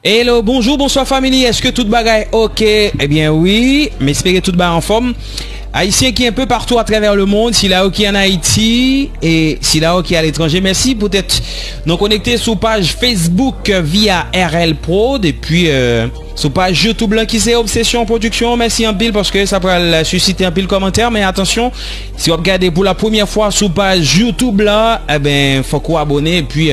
Hello bonjour bonsoir family eske tout bagay ok ebyen wi m espere tout bagay anfom ayisyen ki enpe partou atrèvè le mond sila yo ki an ayiti e sila yo ki a letranje mèsi poutèt nou konekte sou paj facebook via rl prod epi sou paj youtube lan ki se obsesyon production mèsi anpil paske sa pral susite anpil komantè men atansyon si wap gade pou la premyè fwa sou paj youtube lan ebyen fòk ou abone epi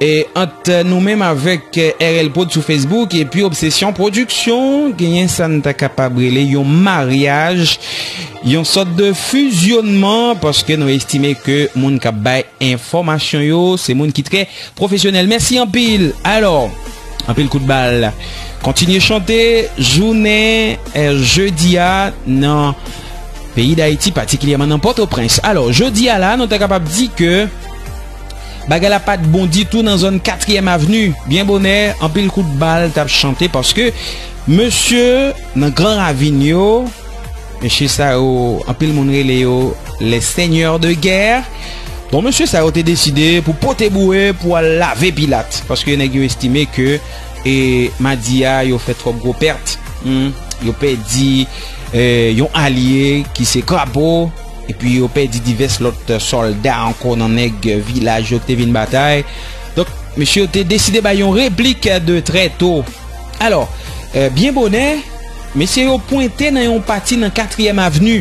E ant nou menm avèk RL prod sou Facebook epi Obsession Production genyen sa n ta kapab rele yon maryaj, yon sòt de fizyonman paske nou estime ke moun k ap bay enfòmasyon yo se moun ki trè pwofesyonèl. Mèsi anpil! Alò, anpil kout bal kontinye chante jounen jedi a nan peyi Dayiti patikilyèman nan Pòtoprens. Alò, jodi a la nou ta kapab di ke. Bagay la pat bon ditou nan zòn katriyèm avni. Byen bonè, anpil kout bal t ap chante paske mesye nan gran ravin yo, mesye sa yo anpil moun rele yo les seigneurs de guerre, bon mesye sa yo te deside pou pote boure pou al lave pilat paske nèg yo estime ke e madi a yo fè twòp gwo pèt, yo pèdi yon alye ki se krapo. epi yo pèdi divès lòt sòlda ankò nan nèg vilaj yo ki te vin batay. Donk, mesye yo te deside bay yon replik de trè to. Alò, euh, byen bonè, mesye yo pwente nan yon pati nan Katriyèm Avni.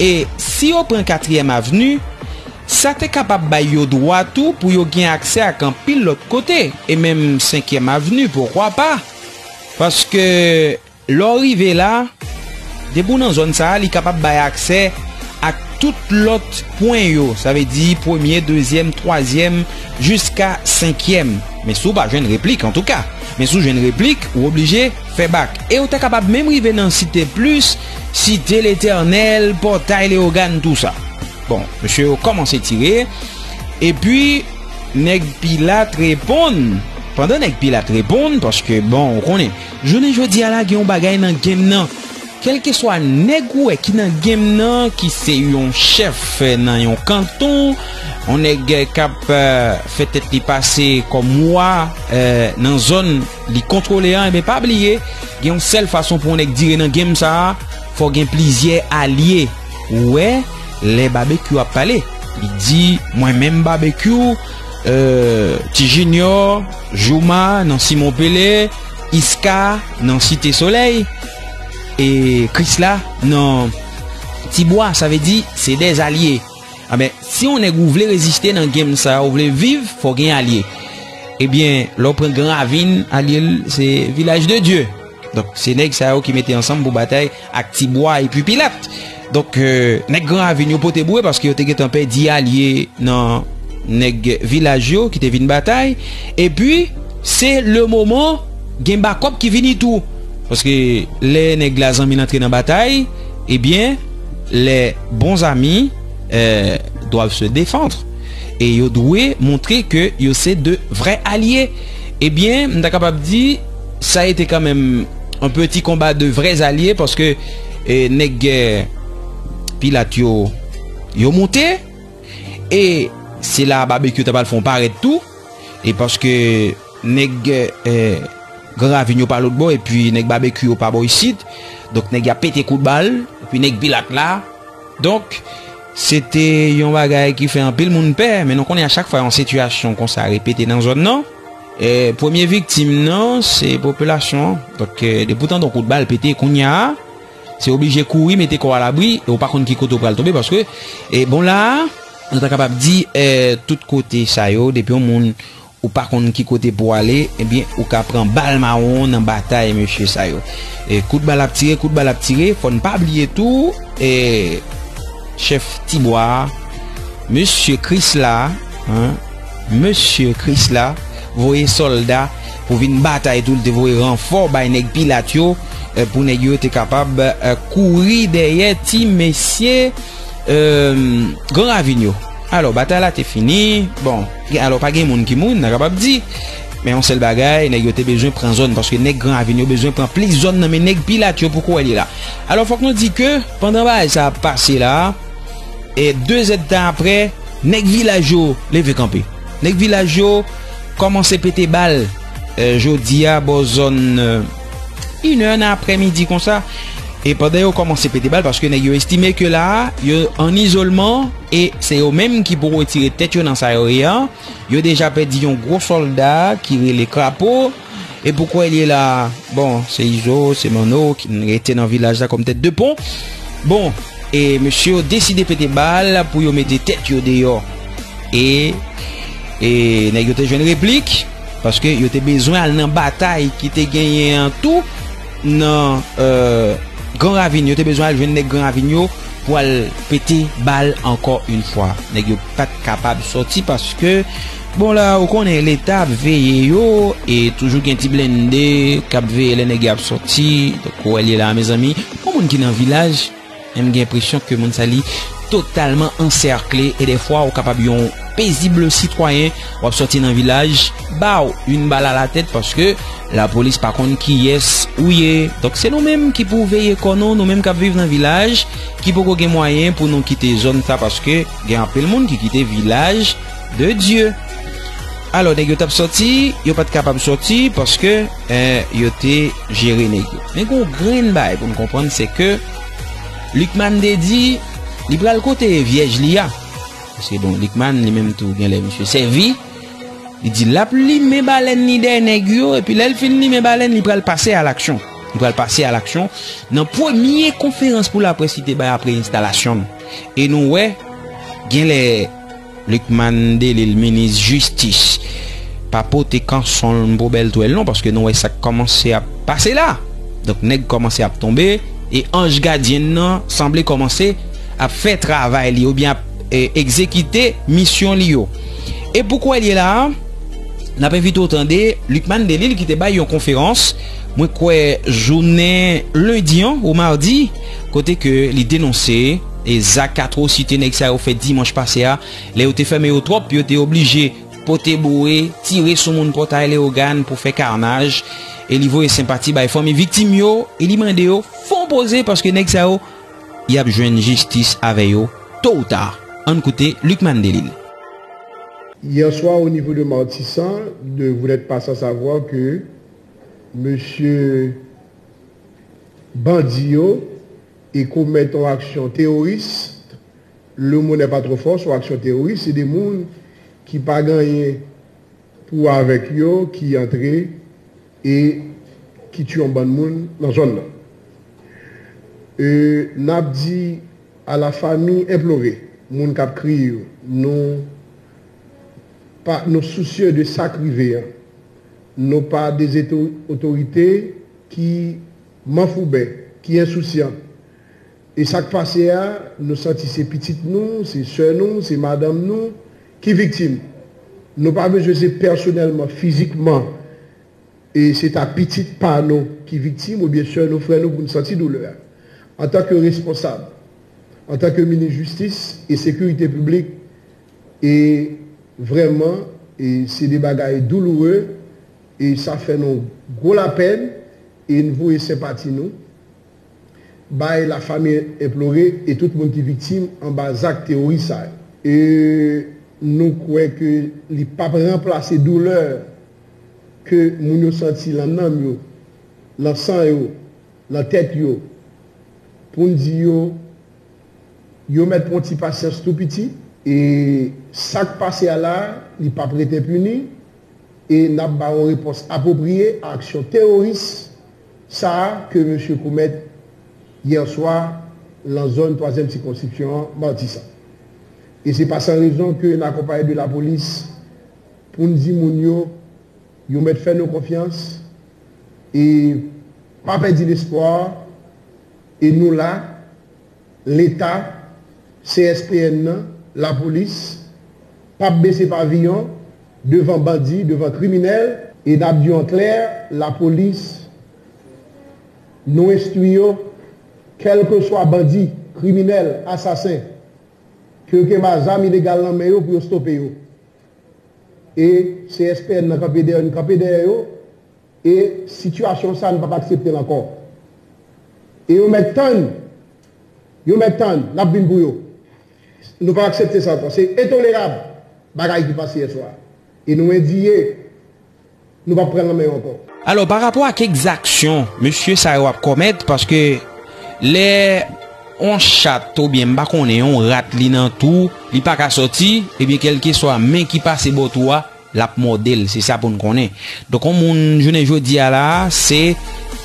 E si yo pran Katriyèm Avni, sa te kapab bay yo dwa tou pou yo gen aksè ak anpil lòt kote, e menm Senkyèm Avni, poukwa pa? Paske... Lè w rive la, depi w nan zòn sa a, li kapab bay aksè ak tout lòt pwen yo, sa vle di premye, dezyèm, twazyèm, jiska senkyèm. Men si w pa jwenn replik, antouka. Men si w jwenn replik, ou oblije fè bak. E w ta kapab menm rive nan Site Plis, Site Letènèl, Pòtay Leyogàn, tou sa. Bon, mesye yo kòmanse tire, epi Nèg Pilat reponn. Pandan Nèg Pilat reponn, paske bon, ou konnen. Jounen jodi a la gen yon bagay nan game nan, kelkeswa nèg ou wè ki nan game nan ki se yon chèf nan yon kanton, yon nèg kap fè tèt li pase kòm wa nan zòn li kontwole an enben pa bliye gen yon sèl fason pou yon nèg dire nan game sa fò gen plizyè alye ou wè lè Babekyou ap pale li di mwen menm Babekyou Ti Jinyò Jooma nan Simon Pele. Iska nan site solèy e Krisla nan ti bwa sa vle di se de zalye a men si yon nèg ou vle reziste nan game sa ou vle viv fò gen alye e byen lò pran gran ravin alye l se vilaj de dye donk se nèg sa yo ki mete ansanm pou batay Ak ti bwa epi pilat. Donk nèg gran ravin yo pote boure paske yo te gentan pèdi alye nan nèg vilaj yo ki te vin batay. Epi se le moman gen bakòp ki vini tou. Paske lè nèg la zanmi l antre nan batay, ebyen lè bon zami doiv se defandre. E yo dwe montre ke yo se de vrè alye. Ebyen m ta kapab di. Sa ete kanmenm yon peti konba de vrè zalye paske nèg gè pilat yo yo moute e se la babekyou ta pral fon parèt tou e paske nèg gè gran ravin yo pa lòt bò epi nèg babekyou yo pa bò isit donk nèg ya pete kout bal epi nèg pilat la donk se te yon bagay ki fè anpil moun pè men nou konnen a chak fwa yon sitiyasyon konsa repete nan zòn nan. E premye viktim nan se popilasyon an. Donk depi w tande yon kout bal pete kounya a, se oblije kouri mete kò w alabri e w pa konn ki kote w pral tonbe paske e bon la a nou ta kapab di e tout kote sa yo depi yon moun ou pa konn ki kote pou w ale ebyen ou ka pran bal mawon nan batay mesye sa yo. E kout bal ap tire, kout bal ap tire fò n pa bliye tou e chèf ti bwa a mesye Krisla a. Mesye Kris la voye sòlda pou vin batay tou, li te voye ranfò bay nèg Pilat yo pou nèg yo te kapab kouri dèyè ti mesye Gran Ravin yo. Alò, batay la te fini, bon, alò pa gen moun ki mouri, n ta kapab di, men yon sèl bagay, nèg yo te bezwen pran zòn, paske nèg Gran Ravin yo bezwen pran plis zòn nan men nèg Pilat yo, poko wè li la. Alò, fòk nou di ke pandan bagay sa ap pase la, E 2 zèd tan aprè, nèg vilaj yo leve kanpe. Nèg vilaj yo kòmanse pete bal. Jodi a bò zòn inè nan aprè midi konsa. E pandan yo kòmanse pete bal, paske nèg yo estime ke la a, yo an izolman, e se yo menm ki pou retire tèt yo nan sa yo ye an. Yo deja pèdi yon gwo sòlda ki rele Krapo. E pou kwe liye la Bon se izo se manno ki n rete nan vilaj la kom tet de pon Bon e mesye yo deside pete bal pou yo mete tet yo deyo E E neg yo te jwen replik Paske yo te bezwen al nan batay ki te genyen an tou Nan e gran ravin yo te bezwen al jwen neg gran ravin yo Pou al pete bal anko yn fwa Neg yo pat kapab soti paske Bon la ou konnen leta ap veye yo e toujou gen ti blende kap veye lè nèg yo ap sòti donk ou wè li la mezanmi yon moun ki nan vilaj menm gen enpresyon ke moun sa li totalman ansèkle e defwa ou kapab yon pezible sitwayen wap sòti nan vilaj baw yon bal a la tèt paske la polis pa konn kiyès ou ye donk se nou menm ki pou veye kò nou nou menm kap viv nan vilaj ki poko gen mwayen pou nou kite zòn sa paske gen anpil moun ki kite vilaj De Dieu. Alò nèg yo tap sòti, yo pat kapab sòti paske eh, yo te jere nèg yo. Men gen yon grenn bagay pou nou konprann se ke Lucmane te di li pral kote vyèj li a. Paske bon Lucmane li menm tou genlè misye sèvi. Li di lap limen balèn li dèyè nèg yo epi lèl fin limen balèn li pral pase a laksyon. Li pral pase a laksyon nan premye konferans pou laprès li te bay apre enstalasyon l. E nou wè genlè Lucmane Delil minis jistis pa pote kanson l pou bèl twèl non paske nou wè sak kòmanse ap pase la donk nèg kòmanse ap tonbe e anj gadyen n nan sanble kòmanse ap fè travay li oubyen ap egzekite misyon li yo e pou kwè l ye la a n ap envite w tande Lucmane Delil ki te bay yon konferans mwen kwè jounen lendi an ou mardi kote ke li denonse. E zak atwosite nèg sa yo fè dimanch pase a, lè yo te fèmen yo twòp, yo te oblije pote boure, tire sou moun Pòtay Leyogàn pou fè karnaj, e li voye senpati bay fanmi viktim yo, e li mande yo fon poze paske nèg sa yo y ap jwenn jistis avè yo to ou ta. Ann koute Lucmane Delille. Hier soir au niveau de Martissant de vous n'êtes pas sans savoir que Monsieur bandi yo e komèt yon aksyon teworis, le mot n'est pas trop fort, son aksyon teworis, se 2 moun ki pa gen anyen pou wè avèk yo ki antre e ki tye yon bann moun nan zòn nan. E n ap di a la fami enplore, moun k ap kriye yo, nou pa, nou sousye de sa k rive an, nou pa dezotorite ki Manfouben ki ensousyan. E sa k pase a, nou santi se pitit nou, se sè nou, se madanm nou ki viktim. Nou pa bezwen se pèsonèlman, fizikman, e se ta pitit pa nou ki viktim oubyen sè nou, frè nou pou n santi doulè a. Antanke responsab, antanke minis jistis e sekirite piblik, e vrèman e se de bagay douloure e sa fè nou gwo lapèn. E n voye senpati nou bay lafanmi enplore e tout moun ki viktim anba zak teworis sa yo. E nou kwè ke li p ap ranplase doulè ke moun yo santi lan nanm yo, lan san yo, lan tèt yo, pou n di yo, yo mèt pran ti pasyans tou piti. E sa k pase a la, li p ap ret enpini, E n ap ba yon repons apwopriye a aksyon teworis sa a ke mesye komèt yè swa lan zòn twazyèm sikonskripsyon an, Matisan. E se pa san rezon ke n akonpaye de lapolis pou n di moun yo yo mèt fè nou konfyans e pa pèdi lespwa e nou la. Leta, CSPN nan, Lapolis, p ap bese paviyon devan bandi, devan kriminèl. E n ap di yo an klè, Lapolis, nou enstwi yo, kèlkeswa bandi, kriminèl, asasen, ke yo kenba zam ilegal nan men yo pou yo stope yo. E CSPN nan kanpe dèyè n, kanpe dèyè yo. E sitiyasyon sa nou pap aksepte l ankò. E yo mèt tann, yo mèt tann, n ap vin pou yo. Nou pap aksepte sa ankò. Se entolerab bagay ki pase yè swa a. E nou endiye, nou pap pran l nan men yo ankò. Alò, pa rapò ak ekzaksyon mesye sa yo ap komèt, paske lè yon chat oubyen m pa konnen yon rat li nan tou, li pa ka sòti, ebyen kèlkeswa men ki pase bò tou a, Lap mòdel se sa poun konnen. Donk on moun jounen jodi a la se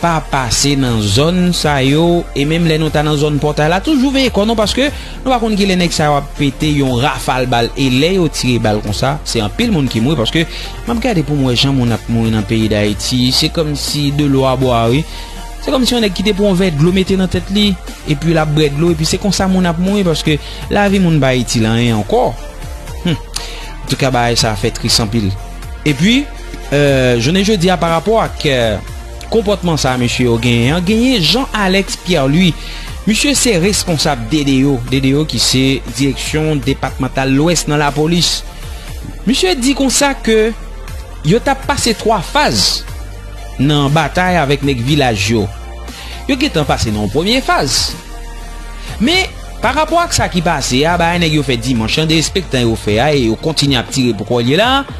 pa pase nan zòn sa yo e menm lè nou ta nan zòn pòtay la toujou veye kò nou paske nou pa konn ki lè nèg sa yo ap pete yon rafal bal e lè yo tire bal konsa se anpil moun ki mouri paske map gade poum wè jan moun ap mouri nan peyi dayiti se kòm si de lò a bwa wi se kòm si yon nèg ki te pran yon vè dlo mete nan tèt li epi lap bwè dlo epi se konsa moun ap mouri paske lavi moun pa itil anyen ankò humm. Antouka bagay sa fè tris anpil. Epi jounen jodi a pa rapò ak konpòtman sa mesye yo genyen an, genyen Jean Alex Pierre Louis. Misye se responsab DDO, DDO ki se direksyon depatmantal lwès nan lapolis. Misye di konsa ke yo t ap pase 3 faz nan batay avèk nèg vilaj yo. Yo gentan pase nan yon premye faz. Men. Pa rapò ak sa ki pase a, bagay nèg yo fè dimanch lan, derespektan yo fè a e yo kontinye ap tire pou kòlye la a,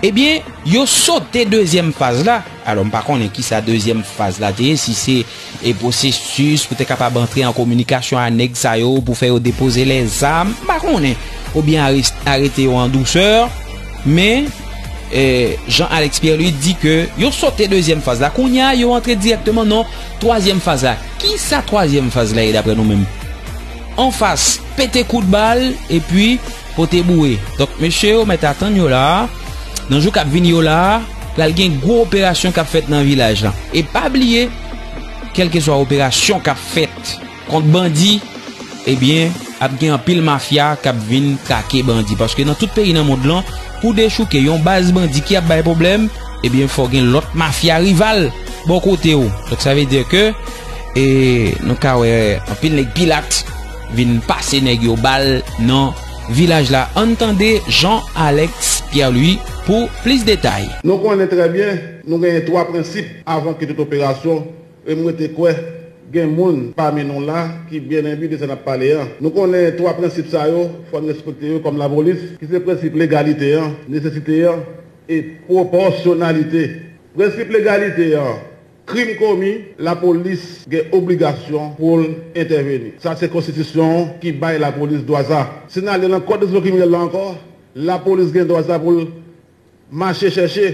ebyen yo sote dezyèm faz la, alò m pa konnen kisa dezyèm faz la te ye, si se e pwosesis pou te kapab antre an kominikasyon a nèg sa yo pou fè yo depoze lèzam, m pa konnen, oubyen arete yo an dousè, men e Jean Alex Pierre Louis di ke yo sote dezyèm faz la, kounye a yo antre dirèkteman nan twazyèm faz la. Kisa twazyèm faz la ye daprè nou menm? Anfas, pete kout bal, epi, pote boure. Donk, mesye yo mèt atann yo la a, nan jou k ap vini yo la a, pral gen gwo operasyon k ap fèt nan vilaj la. E pa bliye, kèlkeswa operasyon k ap fèt kont bandi, Ebyen ap gen anpil mafya kap vin trake bandi paske nan tout peyi nan mond lan pou dechouke yon baz bandi ki ap bay pwoblèm ebyen fò gen lòt mafya rival bò kote w donk sa vle di ke e nou ka wè anpil nèg pilat vin pase nèg yo bal nan vilaj la ann tande Jean Alex Pierre Louis pou plis detay. Nou konnen trè byen nou genyen 3 prensip avan ke tout operasyon E m rete kwè gen moun pami nou la ki byen enbi de sa n ap pale an. Nou konnen twa prensip sa yo, fò n respekte yo kòm lapolis, ki se prensip legalite an, nesesite an e pwopòsyonalite. Prensip legalite an, Krim komi, lapolis gen obligasyon pou l entèveni. Sa se Konstitisyon an ki bay lapolis dwa sa. Si n ale nan Kòd Disiplin Kriminèl la ankò, lapolis gen dwa sa pou l. Mache chèche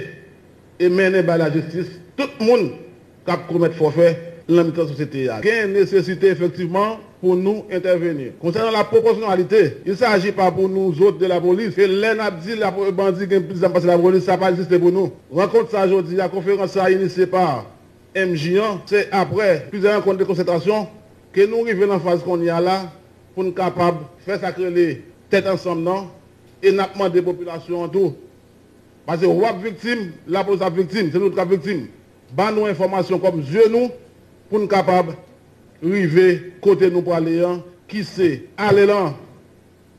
e mennen bay lajistis tout moun k ap komèt fòfe nan mitan sosyete a. Gen nesesite efektivman pou nou entèveni. Konsènan la pwopòsyonalite, il saji pa pou nou zot de lapolis e lè n ap di bandi gen plis zam pase lapolis sa pa egziste pou nou. Rankont sa jodi a, konferans sa inisye pa MJ an, se aprè plizyè rankont de konsètasyon ke nou rive nan faz kounye a la pou n kapab fè sa k rele tèt ansanm nan, E nap mande popilasyon an tou, pase wap viktim, lapolis ap viktim, se nou tout kap viktim, ban nou enfòmasyon kòm zye nou pou n kapab rive kote nou prale an ki se ale lan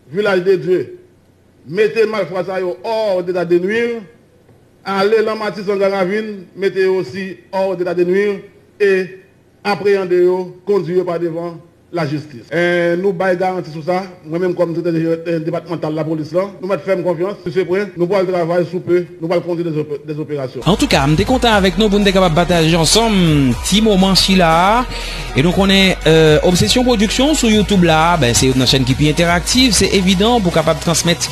Vilaj de Dye, mete malfra sa yo hors d'état de nuire, ale lan Matisan Garavin, mete yo osi hors d'état de nuire e Apreyande yo, kondwi yo pa devan lajistis. Nou bay garanti sou sa, mwen menm kòm Direktè Jeneral Depatmantal Lapolis lan, nou mèt fè m konfyans, misye prè, nou pral travay, sou pe, nou pral kondwi de operasyon. Antouka, m te kontan avèk nou pou n te kapab pataje ansanm ti moman sila a. E nou konnen Obsesyon Production sou YouTube la, ben se youn nan chèn ki pi entèraktiv, se evidan pou kapab transmèt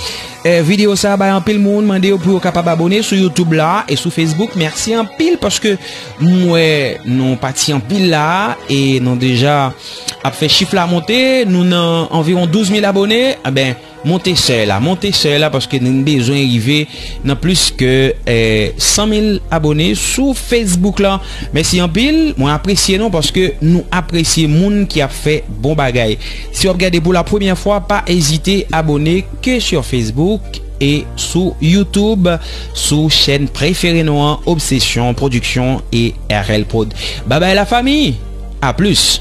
videyo sa a bay anpil moun, mande yo pou yo kapab abone sou YouTube la e sou Facebook. Mèsi anpil paske. M wè nou pati anpil la e nou deja ap fè chif la monte, nou nan anviwon 12 mil abone, anben eh monte sèy la, monte sèy la paske nou bezwen rive nan plis ke 100 eh, mil abone sou Facebook la. Mèsi anpil, mwen apresye nou paske nou apresye moun ki ap fè bon bagay. Si w ap gade pou la premyè fwa pa ezite abone ke sur Facebook. e sou YouTube sou chèn prefere nou an obsesyon production e rl prod babay la fami a plus.